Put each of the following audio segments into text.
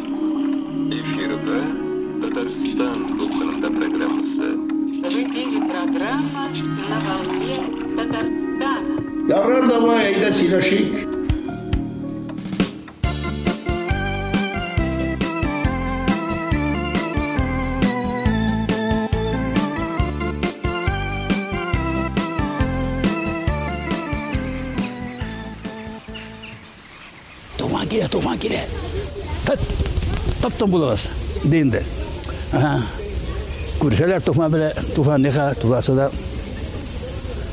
Эфирда Татарстан дулкынында программасы. В эфире программа «На волне Татарстана». Ярар, давай, әйдә сөйләшик. Туфан килә, туфан килә. Тып, тып тын булыгыз, ди инде. Ага. Күршеләр туфан белә, туфан ниха, туфасы да.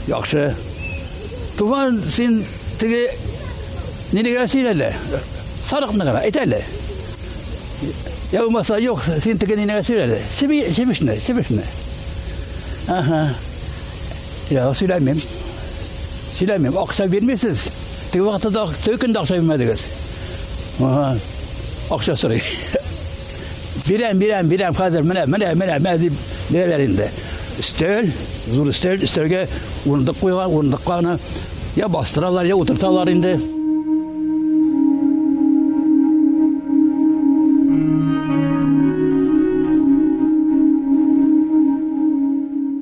Яхшы. Туфан син теге нине генә сөйләле. Сарыкны гына әйтәле. Я умаса юк, син теге нине генә сөйләле. Сиби, сибишне, сибишне. Ага. Я, сөйләмим. Сөйләмим. Акча бирмисез. Теге вакытта да теге көндә акча бирмәдегез. Ага. Акча сорый. Бирәм, бирәм, бирәм хәзер. Менә, менә, менә, менә дип бирәләр инде. Өстәл, зур өстәл, өстәлгә урындык куйган, урындыкка аны Я бастыралар, я утырталар инде.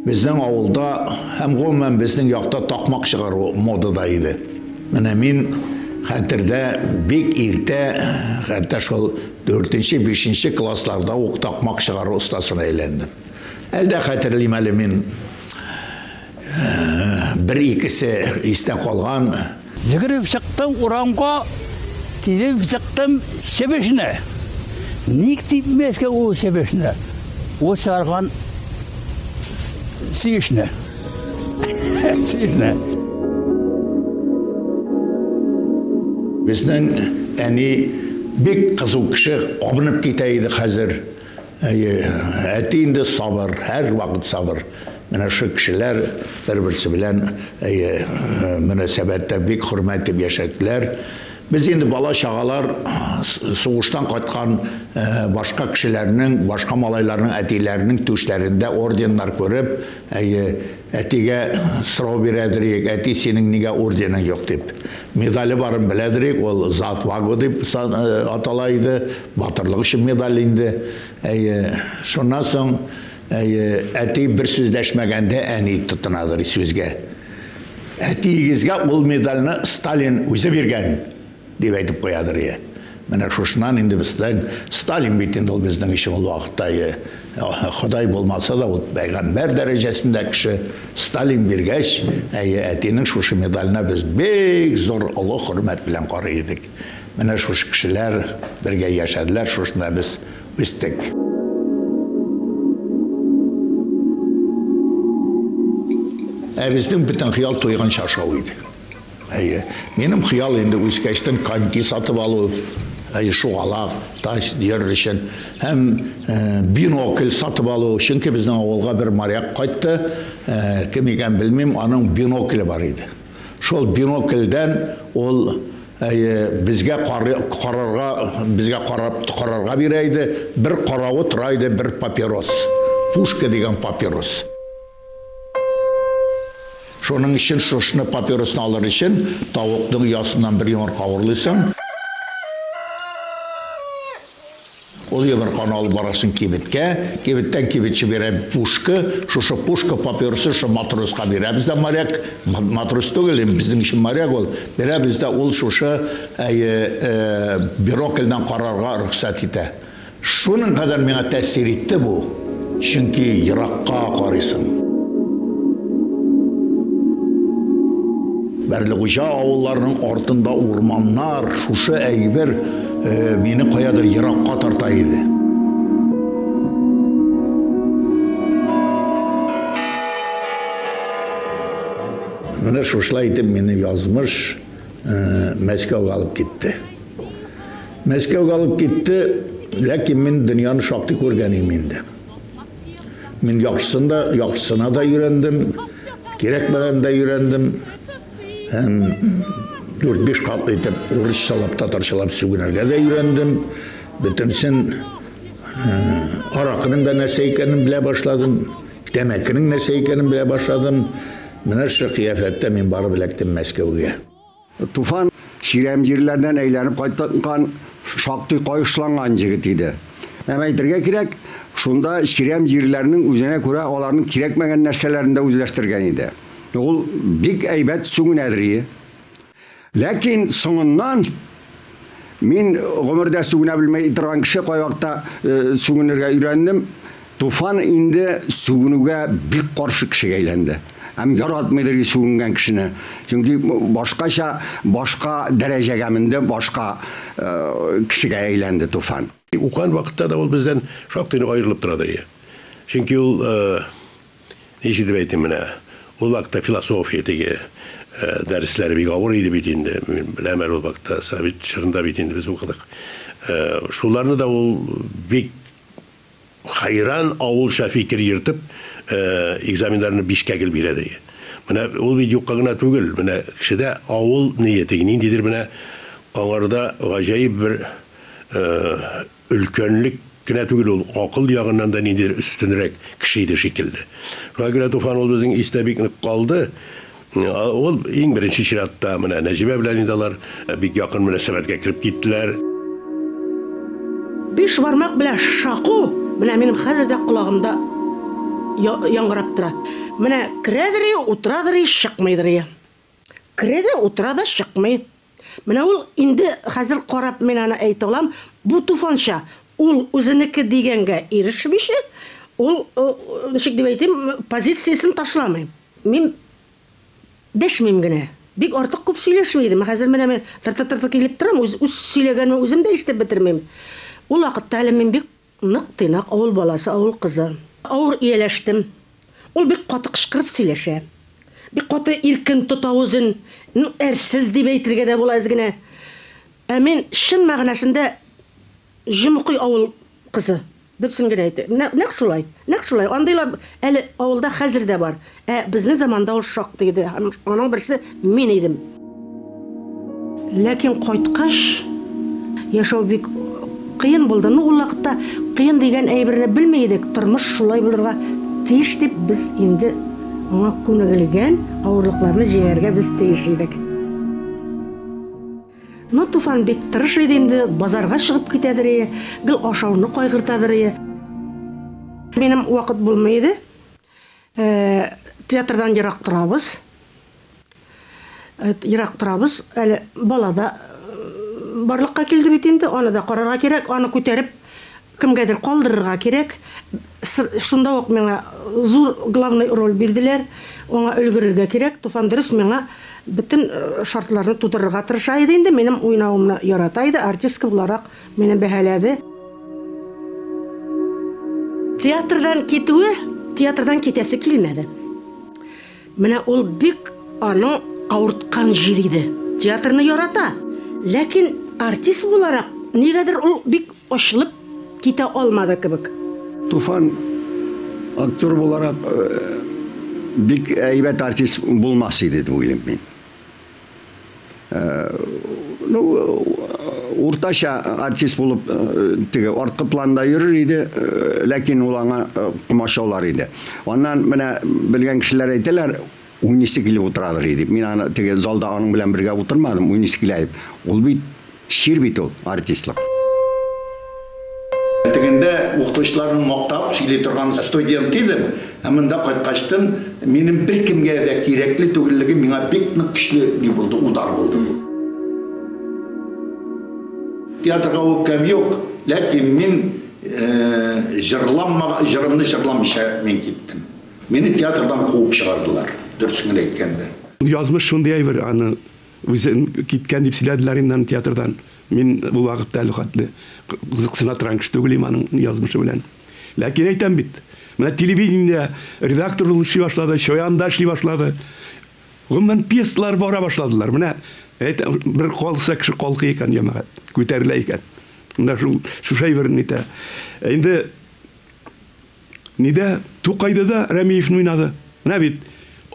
Безнең авылда һәм гомумән безнең якта такмак чыгару модада иде. Менә мин хәтердә бик иртә, хәтта шул 4-5 классларда ук такмак чыгару остасына әйләндем. Әлдә хәтерлим әле мин Бер икесе истә калган. Йөгереп чыктым урамга, тилеп чыктым чебешне. Ник типмәскә ул чебешне? Ул чарган сөешне. Сөешне. Безнең әни бик кызу кеше, абынып китә иде хәзер. Әйе, әти инде сабыр, һәрвакыт сабыр. Менә шул кешеләр бер-берсе белән әйе, э, мөнәсәбәттә бик хөрмәт итеп яшәделәр. Без инде бала-чагалар сугыштан кайткан э, башка кешеләрнең, башка малайларның әтиләренең түшләрендә орденнар күреп, әйе, Әтигә сорау бирәдер идек, әти, синең нигә орденың юк дип. Медале барын беләдер идек, ул За отвагу дип атала иде, батырлык өчен медаль инде. Әйе, шуннан соң, әйе, әти бер сүз дәшмәгәндә, әни тотынадыр сүзгә. Әтиегезгә ул медальне Сталин үзе биргән. Дип әйтеп куядыр, йә. Менә шушыннан инде безнең Сталин бит инде ул безнең өчен ул вакытта, йә. Ходай булмаса да, ул пәйгамбәр дәрәҗәсендә кеше. Сталин биргәч, әйе, әтинең шушы медаленә без бик зур олы хөрмәт белән карый идек. Менә шушы кешеләр бергә яшәделәр, шушында без үстек. Ә безнең бөтен хыял туйганчы ашау иде. Әйе. Минем хыял инде үскәчтен коньки сатып алу, әйе, шугалак, тач йөрер өчен һәм бинокль сатып алу. Чөнки безнең авылга бер моряк кайтты, кем икәнен белмим, аның бинокле бар иде. Шул бинокльдән ул, әйе, безгә карарга, безгә карап карарга бирә иде. Бер каравы тора иде, бер папирос, пушка дигән папирос. Шуның өчен шушны папиросны алыр өчен тавыкның ясыннан бер йомырка урлыйсың. Ул йомырканы алып барасың кибеткә, кибеттән кибетче бирә пушка, шушы пушка папиросы шушы матроска бирәбез дә моряк, матрос түгел, безнең өчен моряк ул, бирәбез дә ул шушы бирокльдән карарга рөхсәт итә. Шуның кадәр миңа тәэсир итте бу, чөнки еракка карыйсың. Бәрлегуҗа авылларының артында урманнар, шушы әйбер мине каядыр еракка тарта иде. Менә шушылай итеп минем язмыш. Мәскәүгә алып китте. Мәскәүгә алып китте, ләкин мин дөньяны шактый күргән идем инде. Мин яхшысын да, яхшысына да өйрәндем, кирәкмәгән дә өйрәндем. Һәм 4-5 кат итеп урысчалап, татарчалап сүгенергә дә өйрәндем. Бөтенсен аракының да нәрсә икәнен белә башладым, тәмәкенең нәрсә икәнен белә башладым. Менә шушы кыяфәттә мин барып эләктем Мәскәүгә. Туфан чирәм җирләрдән әйләнеп кайткан, шактый каешланган җегет иде. Һәм әйтергә кирәк, шунда чирәм җирләрнең үзенә күрә аларның кирәкмәгән нәрсәләрен дә үзләштергән иде. Ул бик әйбәт сүнә-дрие. Ләкин соңыннан мин гомердә сүгенә белмәй торган кеше кайвакта сүгенергә өйрәндем. Туфан инде сүгенүгә бик каршы кешегә әйләнде. Һәм яратмыйдыр и сүгенгән кешене. Чөнки башкача, башка дәрәҗәгә менде, башка кешегә әйләнде Туфан. Укыган вакытта да ул бездән шактый нык аерылып торадыр и. Чөнки ул Ничек дип әйтим менә, ул вакытта философия теге дәресләре бик авыр иде бит инде, мин беләм әле ул вакытта, совет чорында бит инде без укыдык. Шуларны да ул бик хәйран авылча фикер йөртеп, экзаменнарны бишкә гел бирә ди. Менә ул бит юкка гына түгел, менә кешедә авыл ные теге ниндидер менә аңарда гаҗәеп бер Өлкәнлек кенә түгел, ул акыл ягыннан да ниндидер өстенрәк кеше иде шикелле. Шуңа күрә Туфан ул безнең истә бик нык калды. Ул, иң беренче чиратта, менә Нәҗибә белән инде алар бик якын мөнәсәбәткә кереп киттеләр. Биш бармак белән шаку менә минем хәзер дә колагымда яңгырап тора. Менә керәдери, утырадыри, чыкмыйдыри. Керә дә, утыра да, чыкмый. Менә ул, инде хәзер карап мин аны әйтә алам, бу туфанча, ул үзенеке дигәнгә ирешмичә, ул, ничек дип әйтим, позициясен ташламый. Мин дәшмим генә. Бик артык күп сөйләшми идем, ә хәзер менә мин тыртыр-тыртыр килеп торам, үз сөйләгәнемне үзем дә ишетеп бетермим. Ул вакытта әле мин бик Нык тыйнак авыл баласы, авыл кызы. Авыр ияләштем. Ул бик каты кычкырып сөйләшә. Бик каты иркен тота үзен. Ну, әрсез дип әйтергә дә була әз генә. Ә мин чын мәгънәсендә җомыкый авыл кызы. Дөресен генә әйтә. Менә нәкъ шулай. Нәкъ шулай. Андыйлар әле авылда хәзер дә бар. Ә безнең заманда ул шактый иде, һәм аның берсе мин идем. Ләкин кайткач, яшәү бик кыен булды. Ну, ул вакытта кыен дигән әйберне белми идек, тормыш шулай булырга тиеш дип, без инде аңа күнегелгән авырлыкларны җиңәргә без тиеш идек. Ну, Туфан бик тырыш иде инде, базарга чыгып китәдер ие, гел ашауны кайгыртадыр ие. Минем вакыт булмый иде. Театрдан ерак торабыз. Ерак торабыз. Әле бала да барлыкка килде бит инде, аны да карарга кирәк, аны күтәреп кемгәдер калдырырга кирәк. Шунда ук миңа зур главный роль бирделәр, аңа өлгерергә кирәк. Туфан дөрес миңа бөтен шартларны тудырырга тырыша иде инде, минем уйнавымны ярата иде, артистка буларак. Мине бәһаләде. Театрдан китүе, театрдан китәсе килмәде. Менә ул бик аның авырткан җир иде. Театрны ярата, ләкин артист буларак нигәдер ул бик ачылып китә алмады кебек. Туфан актер буларак бик әйбәт артист булмас иде дип уйлыйм мин. Ну, уртача артист булып теге арткы планда йөрер иде, ләкин ул аңа комачаулар иде. Аннан менә белгән кешеләр әйтәләр, уйныйсы килеп утырадыр дип. Мин аны теге залда аның белән бергә утырмадым, уйныйсы килә дип. Ул бит Чир бит ул, артистлык. Тегендә укытучыларның мактап сөйли торган студент идем, ә монда кайткачтын минем беркемгә дә кирәкле түгеллегем миңа бик нык көчле ни булды, удар булды бу. Театрга үпкәм юк, ләкин мин җырламага, җырымны җырламыйча мин киттем. Мине театрдан куып чыгардылар, дөресен генә әйткәндә. Язмыш шундый әйбер, аны. Үзен киткән дип сөйләделәр инде аны театрдан. Мин ул вакытта әле хәтле кызыксына торган кеше түгел идем аның язмышы белән. Ләкин әйтәм бит, менә телевидениедә редактор булып эшли башлады, Чоянда эшли башлады. Гомумән, пьесалар бара башладылар. Менә әйт, бер калса кеше калкый икән, җәмәгать, күтәрелә икән. Менә шул, шушы әйберне әйтә. Инде. Нидә? Тукайда да Рәмиевны уйнады. Менә бит,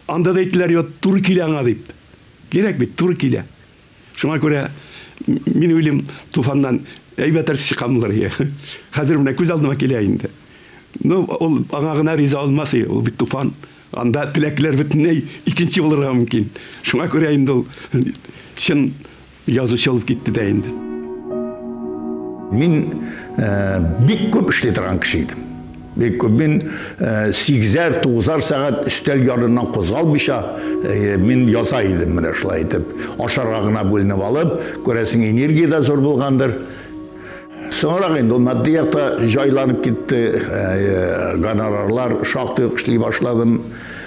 анда да әйттеләр, йо, туры килә аңа дип. Кирәк бит, туры килә. Шуңа күрә мин уйлыйм, Туфаннан әйбәт әртист чыкканмындыр ие. Хәзер менә күз алдыма килә инде. Ну, ул аңа гына риза булмас ие, ул бит Туфан. Анда теләкләр бөтенләй икенче булырга мөмкин. Шуңа күрә инде ул чын Язучы алып китте дә инде. Мин бик күп эшли торган кеше идем. Бик күп мин сигезәр, тугызар сәгать өстәл ярыннан кузгалмыйча мин яза идем менә шулай итеп. Ашарга гына бүленеп алып, күрәсең, энергия дә зур булгандыр. Соңрак инде ул матди якта җайланып китте, гонорарлар шактый ук эшли башладым.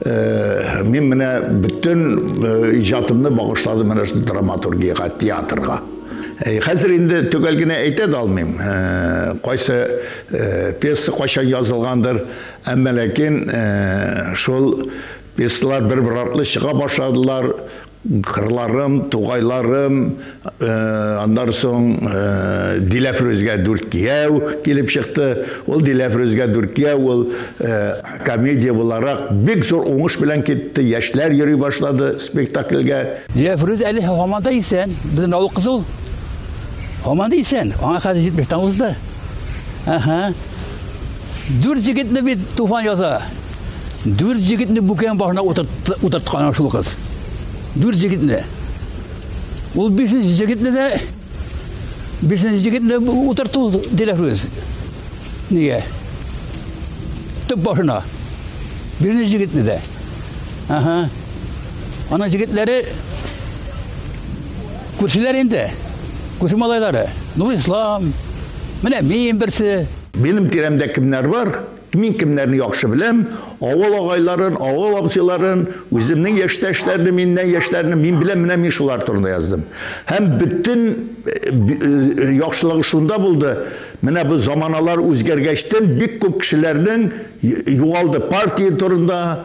Мин менә бөтен иҗатымны багышладым менә шул драматургиягә, театрга. Хәзер инде төгәл генә әйтә дә алмыйм. Кайсы пьеса кайчан язылгандыр, әмма ләкин шул пьесалар бер-бер артлы чыга башладылар, Кырларым, тугайларым, аннан соң Диләфрүзгә дүрт кияү килеп чыкты. Ул Диләфрүзгә дүрт кияү ул комедия буларак бик зур уңыш белән китте. Яшьләр йөри башлады спектакльгә. Диләфрүз әле һаман да исән. Безнең авыл кызы ул. Һаман да исән. Аңа хәзер 70 тан узды. Әһә. Дүрт егетне бит туфан яза. Дүрт егетне бүкән башына утырткан шул кыз. Дүрт егетне. Ул бишенче егетне дә бишенче егетне утыртты ул Диләфрүз. Нигә? Төп башына. Бишенче егетне дә. Ага. Ана егетләре күршеләр инде. Күрше малайлары. Нур Ислам. Менә мин берсе. Минем тирәмдә кемнәр бар? Мин кемнәрне яхшы беләм? Авыл агайларын, авыл абзыйларын, үземнең яшьтәшләрне, миннән яшьләрне мин беләм, менә мин шулар турында яздым. Һәм бөтен яхшылыгы шунда булды, менә бу заманалар үзгәргәчтен бик күп кешеләрнең югалды партия турында,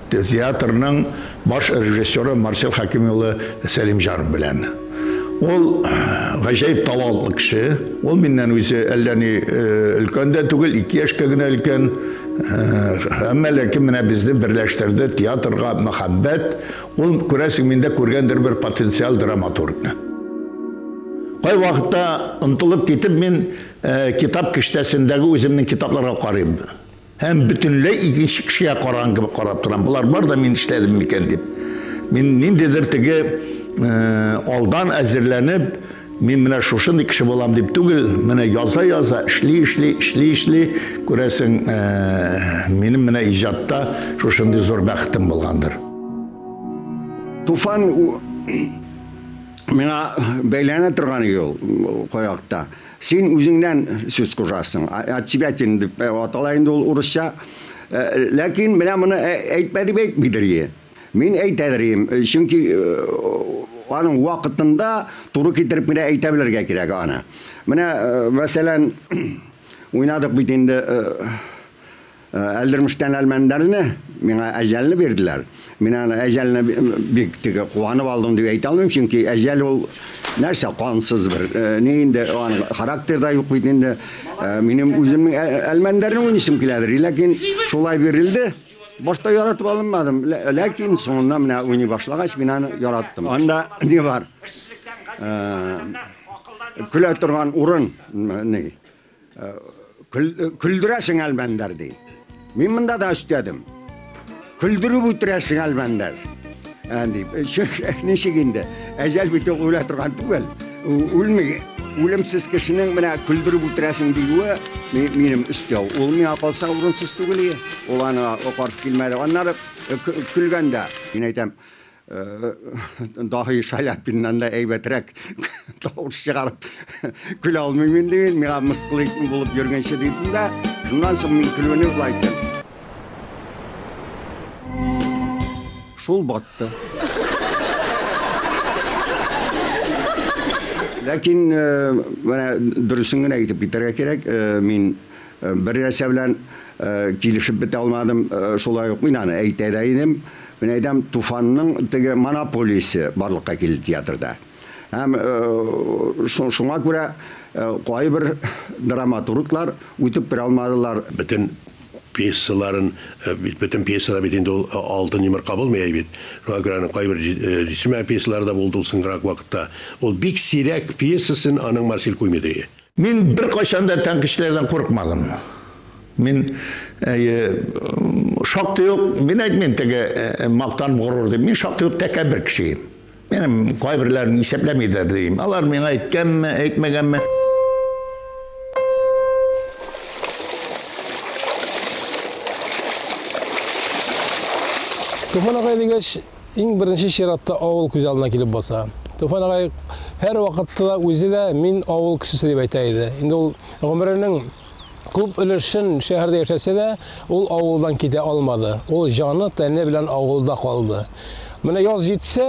Театрның баш режиссеры Марсель Хәким улы Сәлимҗанов белән. Ул гаҗәеп талантлы кеше. Ул миннән үзе әллә ни өлкән дә түгел, ике яшькә генә өлкән. Әмма ләкин менә безне берләштерде театрга мәхәббәт. Ул, күрәсең, миндә күргәндер бер потенциаль драматургны. Кайвакытта, онытылып китеп, мин китап киштәсендәге үземнең китапларга карыйм. Һәм бөтенләй икенче кешегә караган кебек карап торам. Болар бар да мин эшләдем микән дип. Мин ниндидер теге э, алдан әзерләнеп, мин менә шушындый кеше булам дип түгел, менә яза-яза, эшли, эшли, эшли, эшли, күрәсең, э, минем менә иҗатта шушындый зур бәхетем булгандыр. Туфан миңа бәйләнә торган юл каякта. Син үзеңнән сүз кужасың. Отсебятин дип атала инде ул урысча. Ләкин менә моны әйтмә дип әйтмидер ие. Мин әйтәдер ием, чөнки аның вакытында туры китереп кенә әйтә белергә кирәк аны. Менә, мәсәлән, уйнадык бит инде Әлдермештән Әлмәндәрне, миңа әҗәлне бирделәр. Мин аны әҗәлне бик теге куанып алдым дип әйтә алмыйм, чөнки әҗәл ул нәрсә кансыз бер. Э, ни инде аның характерда юк бит инде. Э, минем үземнең ә, Әлмәндәрне уйныйсым киләдер, ләкин шулай бирелде. Башта яратып алынмадым, ләкин соңыннан менә уйный башлагач, мин аны яраттым. Анда ни бар? Э, көлә торган урын, ни? Көлдерәсең әлбәндәр ди. Мин монда да өстәдем. Көлдереп үтерәсең әлбәндәр. Әнди, ничек инде? Әҗәл бит үлә торган түгел. Үлми. Үлемсез кешенең менә көлдереп үтерәсең диюе минем өстәү. Ул миңа калса урынсыз түгел. Ул аны каршы килмәде. Аннары көлгәндә, мин әйтәм, Даһи Шаляпиннан да әйбәтрәк тавыш чыгарып көлә алмыйм инде мин. Миңа мыскыл итми булып йөргәнче дидем дә, шуннан соң мин көлүне болай иттем. Шул батты. Ләкин менә дөресен генә әйтеп китәргә кирәк, мин Бер нәрсә белән килешеп бетә алмадым, шулай ук мин аны әйтә дә идем, мин әйтәм, Туфанның теге монополиясе барлыкка килде театрда. Һәм шуңа күрә кайбер драматурглар үтеп керә алмадылар. Бөтен пьесаларын, бит бөтен пьесада бит инде ул алтын йомырка булмый әй бит. Шуңа күрә аның кайбер җитешмәгән пьесалары да булды ул соңгырак вакытта. Ул бик сирәк пьесасын аның Марсель Куймедри. Мин беркайчан да тәнкышләрдән курыкмадым. Мин шактый ук, мин әйтмим теге мактан горур дип, мин шактый ук тәкәббер кеше. Минем кайберләрен исәпләмидер дим. Алар миңа әйткәнме, әйтмәгәнме? Туфан агай дигәч, Иң беренче чиратта авыл күз алдына килеп баса. Туфан агай һәр вакытта да үзе дә мин авыл кешесе дип әйтә иде. Инде ул гомеренең күп өлешен шәһәрдә яшәсә дә, ул авылдан китә алмады. Ул җаны, тәне белән авылда калды. Менә яз җитсә,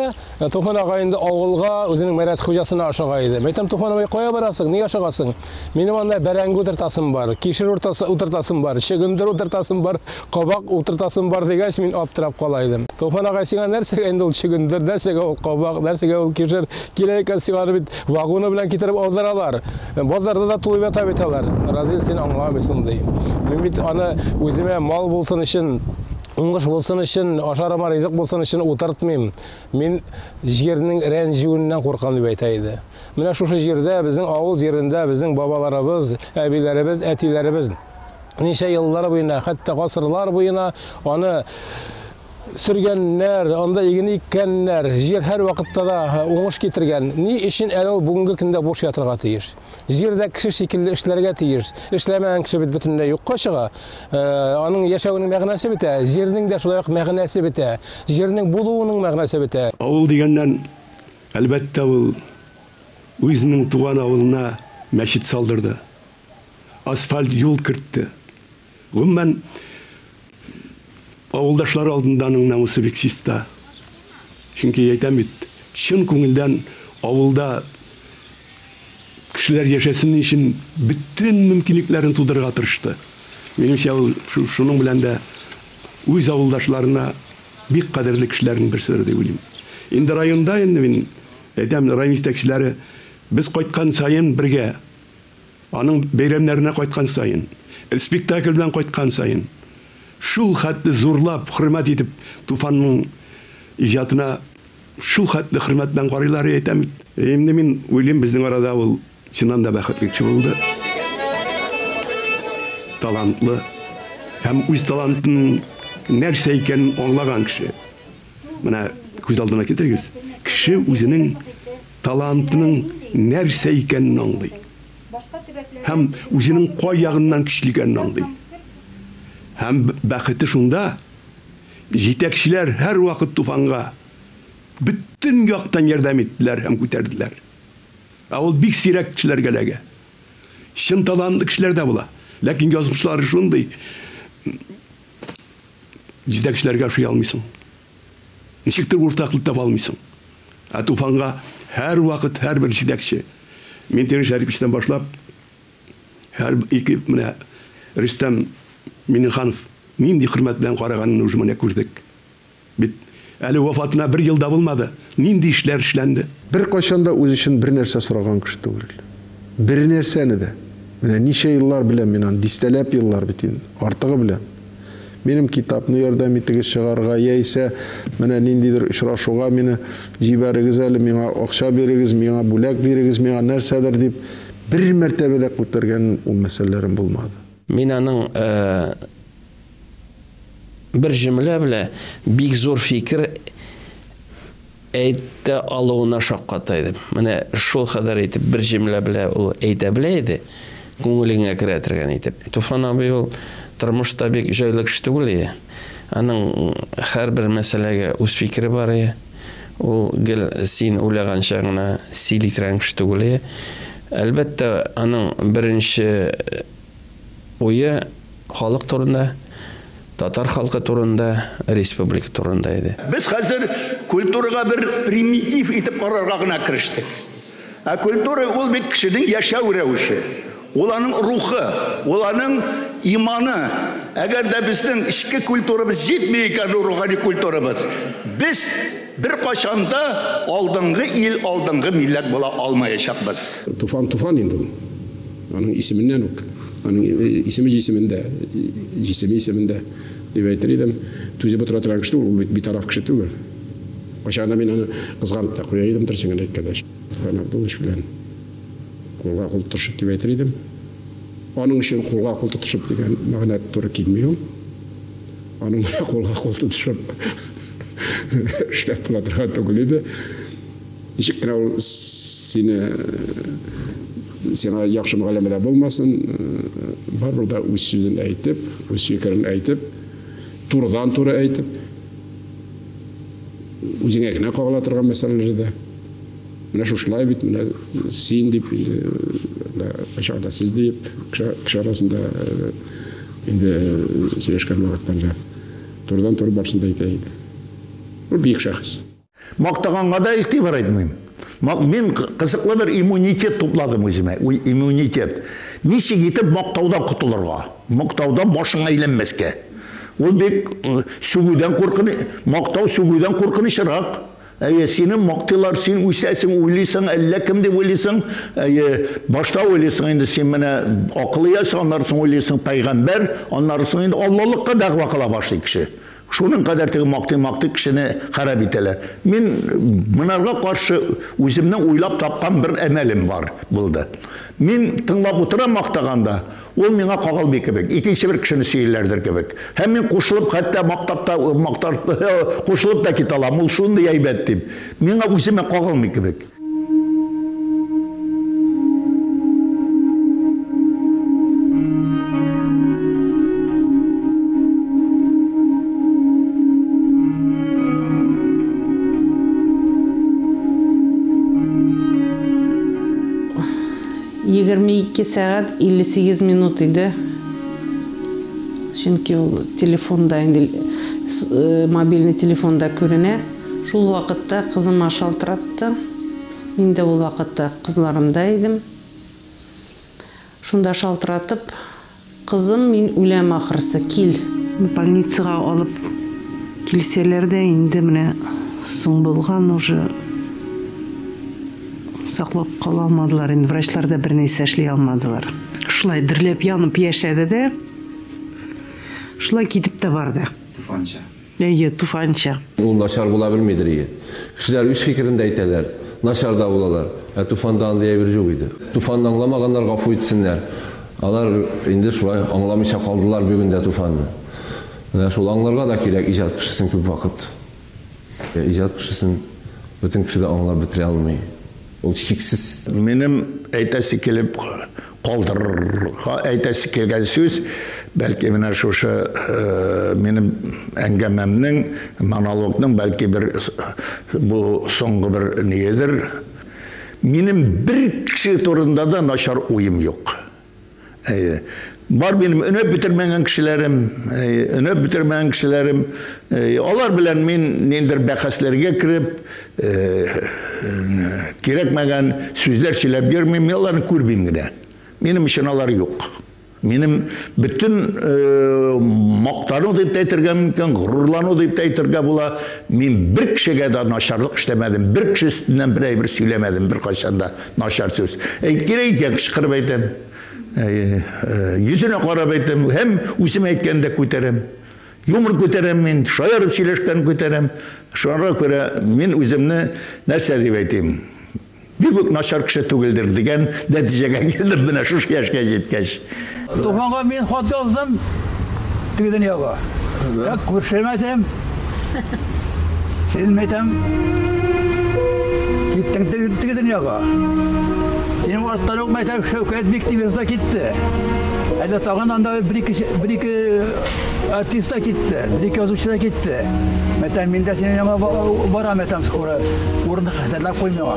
Туфан агай инде авылга, үзенең Мәрәт хуҗасына ашыга иде. Мәйтәм, Туфан агай, кая барасың, ни ашыгасың? Минем анда бәрәңге утыртасым бар, кишер утыртасым бар, чөгендер утыртасым бар, кабак утыртасым бар дигәч, мин аптырап кала идем. Туфан агай, сиңа нәрсәгә инде ул чөгендер, нәрсәгә ул кабак, нәрсәгә ул кишер? Кирәк икән сиңа аны бит вагоны белән китереп алдыралар. Базарда да тулып ята бит алар. Разил, син аңламыйсың, ди. Мин бит аны үземә мал булсын өчен уңыш булсын өчен, ашарыма ризык булсын өчен утыртмыйм. Мин җирнең рәнҗүеннән куркам, дип әйтә иде. Менә шушы җирдә, безнең авыл җирендә безнең бабаларыбыз, әбиләребез, әтиләребез ничә еллар буена, хәтта гасырлар буена аны сөргәннәр, анда иген иккәннәр, җир һәр вакытта да уңыш китергән. Ни өчен әле ул бүгенге көндә буш ятырга тиеш? Җир дә кеше шикелле эшләргә тиеш. Эшләмәгән кеше бит бөтенләй юкка чыга. Э, аның яшәвенең мәгънәсе бетә, җирнең дә шулай ук мәгънәсе бетә, җирнең булуының мәгънәсе бетә. Авыл дигәннән Әлбәттә, ул үзенең туган авылына мәчет салдырды, асфальт юл кертте. Гомумән, авылдашлары алдында аның намусы бик чиста. Чөнки, әйтәм бит, чын күңелдән авылда кешеләр яшәсен өчен бөтен мөмкинлекләрен тудырырга тырышты. Минемчә, ул шуның белән дә үз авылдашларына. Бик кадерле кешеләрнең берседер дип уйлыйм. Инде районда инде мин әйтәм, район җитәкчеләре без кайткан саен бергә, аның бәйрәмнәренә кайткан саен, спектакль белән кайткан саен шул хәтле зурлап, хөрмәт итеп Туфанның иҗатына шул хәтле хөрмәт белән карыйлар, әйтәм бит. Инде мин уйлыйм, безнең арада ул Синан да бәхетле кеше булды. Талантлы һәм үз талантының нәрсә икәнен аңлаган кеше. Менә күз алдына китерегез. Кеше үзенең талантының нәрсә икәнен аңлый. Һәм үзенең кай ягыннан көчле икәнен аңлый. Һәм бәхете шунда, җитәкчеләр һәрвакыт Туфанга бөтен яктан ярдәм иттеләр һәм күтәрделәр. Ә ул бик сирәк кешеләргә эләгә. Чын талантлы кешеләр дә була, ләкин язмышлары шундый, җитәкчеләргә ошый алмыйсың. Ничектер уртаклык таба алмыйсың. Ә Туфанга һәрвакыт һәрбер җитәкче, Минтимер Шәриповичтан башлап, һәр ике менә Рөстәм Миңнеханов нинди хөрмәт белән караганын уже менә күрдек. Бит, әле вафатына бер ел да булмады, нинди эшләр эшләнде? Беркайчан да үз өчен бернәрсә сораган кеше түгел. Бернәрсәне дә. Менә ничә еллар беләм мин аны, дистәләп еллар бит инде, артыгы белән. Минем китапны ярдәм итегез чыгарырга, яисә менә ниндидер очрашуга мине җибәрегез әле, миңа акча бирегез, миңа бүләк бирегез, миңа нәрсәдер дип, бер мәртәбә дә күтәргән ул мәсьәләләрен булмады. Мин аның бер җөмлә белә бик зур фикер әйтә алуына шакката идем. Менә шул кадәр итеп бер җөмлә белә ул әйтә белә иде, күңелеңә керә торган итеп. Туфан абый ул тормышта бик җайлы кеше түгел иде. Аның һәрбер мәсьәләгә үз фикере бар иде. Ул гел син уйлаганча гына сөйли торган кеше түгел иде. Әлбәттә, аның беренче уе халык турында, татар халкы турында, республика турында иде. Без хәзер культурага бер примитив итеп карарга гына керештек. Ә культура ул бит кешенең яшәү рәвеше, ул аның рухы, ул аның иманы. Әгәр дә безнең эчке культурабыз җитми икән, рухани культурабыз, без беркайчан да алдынгы ил, алдынгы милләт була алмаячакбыз. Туфан туфан инде ул. Аның исеменнән үк, аның исеме җисемендә, җисеме исемендә, дип әйтер идем. Түзеп утыра торган кеше түгел, ул бит битараф кеше түгел. Кайчагында мин аны кызганып та куя идем, дөресен генә әйткәндә. Иван Абдулович белән кулга кул тотышып дип әйтер идем. Аның өчен кулга кул тотышып дигән мәгънә туры килми ул. Аның белән кулга кул тотышып эшләп була торган түгел иде. Ничек кенә ул сине сиңа яхшы мөгаләмәдә булмасын, барыбер дә үз сүзен әйтеп, үз фикерен әйтеп, турыдан туры әйтеп, үзеңә генә кагыла торган мәсьәләләрдә менә шушылай бит менә син дип инде кайчагында сез дип кеше арасында инде сөйләшкән вакытларда турыдан туры барсын да әйтә иде ул бөек шәхес Мактаганга да игътибар итмим. Мин кызыклы бер иммунитет тупладым үземә. Иммунитет. Ничек итеп мактаудан котылырга? Мактаудан башың әйләнмәскә. Ул бик э, сүгүдән куркын, мактау сүгүдән куркынычрак. Әйе, сине мактыйлар, син үсәсең, уйлыйсың, әллә кем дип уйлыйсың. Әйе, башта уйлыйсың инде син менә акыл иясе, аннары соң уйлыйсың пәйгамбәр, аннары соң инде Аллалыкка дәгъва кыла башлый кеше. Шуның кадәр теге мактый-мактый кешене харап итәләр. Мин монарга каршы үземнең уйлап тапкан бер әмәлем бар булды. Мин тыңлап утырам мактаганда, ул миңа кагылмый кебек, икенче бер кешене сөйлиләрдер кебек. Һәм мин кушылып, хәтта мактап та, мактап, кушылып та китә алам, ул шундый әйбәт дип. Миңа үземә кагылмый кебек. Егерме ике сәгать 58 минут иде. Чөнки ул телефонда инде э, мобильный телефонда күренә. Шул вакытта кызыма шалтыратты. Мин дә ул вакытта кызларымда идем. Шунда шалтыратып, Кызым, мин үләм ахрысы, кил! Больницага алып килсәләр дә, инде менә соң булган, уже саклап кала алмадылар, инде врачлар да бернәрсә эшли алмадылар. Шулай дөрләп-янып яшәде дә, шулай китеп тә барды. Туфанча. Әйе, туфанча. Ул начар була белмидер ие. Кешеләр үз фикерен дә әйтәләр, начар да булалар. Ә туфанда андый әйбер юк иде. Туфанны аңламаганнар гафу итсеннәр. Алар инде шулай аңламыйча калдылар бүген дә туфанны. Менә шул аңларга да кирәк иҗат кешесен күп вакыт. Иҗат кешесен бөтен кеше дә аңлап бетерә алмый. Ул чиксез. Минем әйтәсе килеп калдырырга әйтәсе килгән сүз, бәлки менә шушы минем әңгәмәмнең, монологның бәлки бер бу соңгы бер ниедер. Минем бер кеше турында да начар уем юк. Әйе. Бар минем өнәп бетермәгән кешеләрем, әйе, өнәп бетермәгән кешеләрем. Әйе, алар белән мин ниндидер бәхәсләргә кереп, кирәкмәгән сүзләр сөйләп йөрмим, мин аларны күрмим генә. Минем өчен алар юк. Минем бөтен мактану дип тә әйтергә мөмкин, горурлану дип тә әйтергә була. Мин бер кешегә дә начарлык эшләмәдем, бер кеше өстеннән бер әйбер сөйләмәдем беркайчан да. Начар сүз. Әйтер әйтә, кычкырып әйтәм. Йөзенә карап әйтәм, һәм үзем әйткәндә күтәрәм. Юмор күтәрәм мин, шаярып сөйләшкән күтәрәм. Шуңа күрә мин үземне нәрсә дип әйтим? Бигүк начар кеше түгелдер дигән нәтиҗәгә килдем менә шушы яшькә җиткәч. Туфанга мин хат яздым. Теге дөньяга. Так күршем әйтәм. Син әйтәм. Киттең теге дөньяга. Синең арттан ук мәйтәм Шәүкәт бик тибезда китте. Әле тагын анда бер-ике артиста китте, бер-ике язучы да китте. Мәтәм мин дә синең яңа барам, мәтәм скоро. Урын хәзерләп куй миңа.